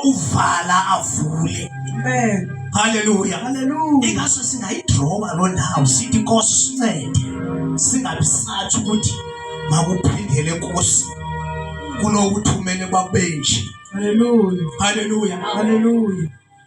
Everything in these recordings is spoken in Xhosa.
uvala avule amen haleluya haleluya ingaso singayidroba loo ndawo sithi nkosi sincede singabisathi ukuthi makuphindele nkosi kunokuthumele babenje haleluya haleluya haleluya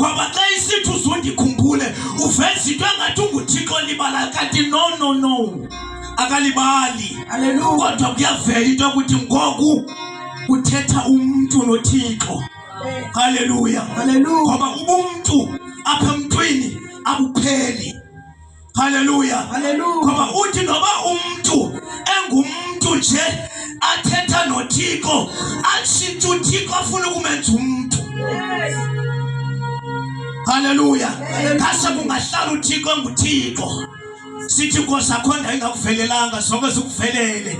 ngoba xa isithi uzundikhumbule uveza into engathi unguthixo libalayo kanti no no no akalibali kodwa kuyavela into yokuthi ngoku uthetha umntu nothixo haleluya ngoba ubumntu apha emntwini abupheli Haleluya, haleluya. Ngoba uthi noba umntu engumntu nje athetha noThixo atshintshe uThixo afuna ukumenza umntu. Haleluya. Ngase kungahlala uThixo enguThixo. Sithi inkosi akhonda ingakuvelelanga sonke sikuvelele.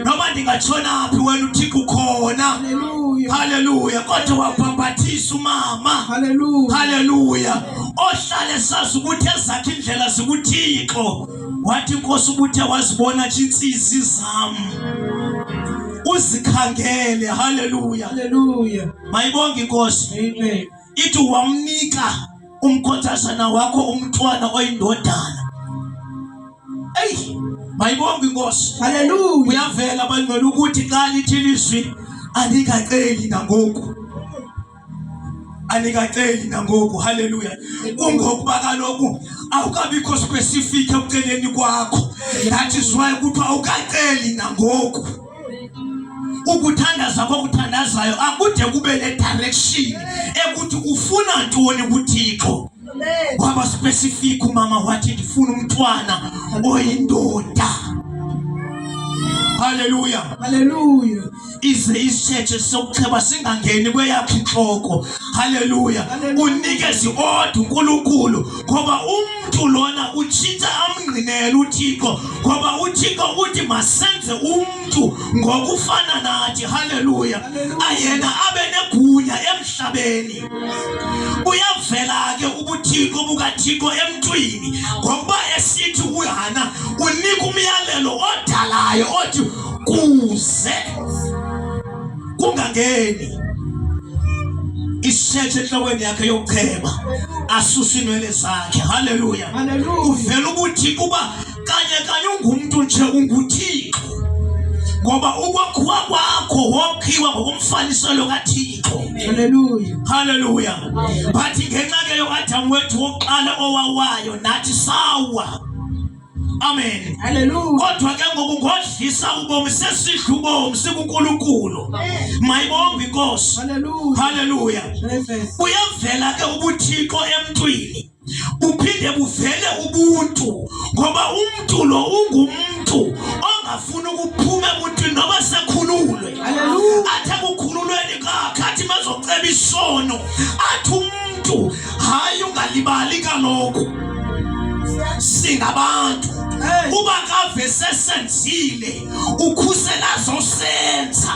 noma ndingatshonaphi wena uthixo ukhona haleluya kodwa wabhambathisa umama haleluya ohlale sazi ukuthi ezakhe indlela zikuthixo wathi inkosi ubuthe wazibona nje intsizi zam uzikhangele haleluya mayibonge inkosi amen ithi wamnika umkhothazana wakho umntwana oyindodana eyi mayibonga inkosi haleluya uyavela bangcwele ukuthi xa lithi lizwi alikaceli nangoku anikaceli nangoku haleluya kungokuba kaloku awukabikho specific ekuceleni kwakho that is why kuthiwa awukaceli nangoku ukuthandaza kwakuthandazayo akude kube nedirection ekuthi ufuna ntoni kuthixo waba specific umama wathi ndifuna umntwana oyindoda haleluya haleluya ize isitshethe sokucheba singangeni kweyakhe intloko haleluya unikezi odwa unkulunkulu ngoba umntu lona utshintsha amngqinele uthixo ngoba uthixo uthi masenze umntu ngokufana nathi haleluya ayena abe negunya emhlabeni uyavela ke ubuthixo bukathixo emntwini ngokuba esithi uhana unika umyalelo odalayo othi kuze kungangeni isetshe enhlokweni yakhe yokuchema asuse inwele zakhe haleluya uvela ukuthi kuba kanye kanye ungumntu nje unguthixo ngoba ukwakhiwa kwakho wokhiwa ngokomfaniselo kathixo haleluya haleluya but ngenxa ke yokaadamu wethu wokuqala owawayo nathi sawa Amen. Hallelujah. Kodwa ke ngokungodlisa ubomi sesidla ubomi sikuNkulunkulu. Mayibonge inkosi. Hallelujah. Hallelujah. Uyavela ke ubuthixo emntwini. Uphinde buvele ubuntu ngoba umuntu lo ungumuntu ongafuni ukuphuma ebuntwini noba sekhululwe. Hallelujah. Athe kukhululweni kakhe athi mazoceba isono athi umuntu hayi ungalibali kaloku singabantu uba kave sesenzile ukhusela zosenza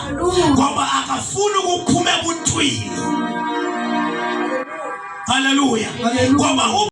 ngoba akafuni ukuphuma ebuntwini haleluya ngoba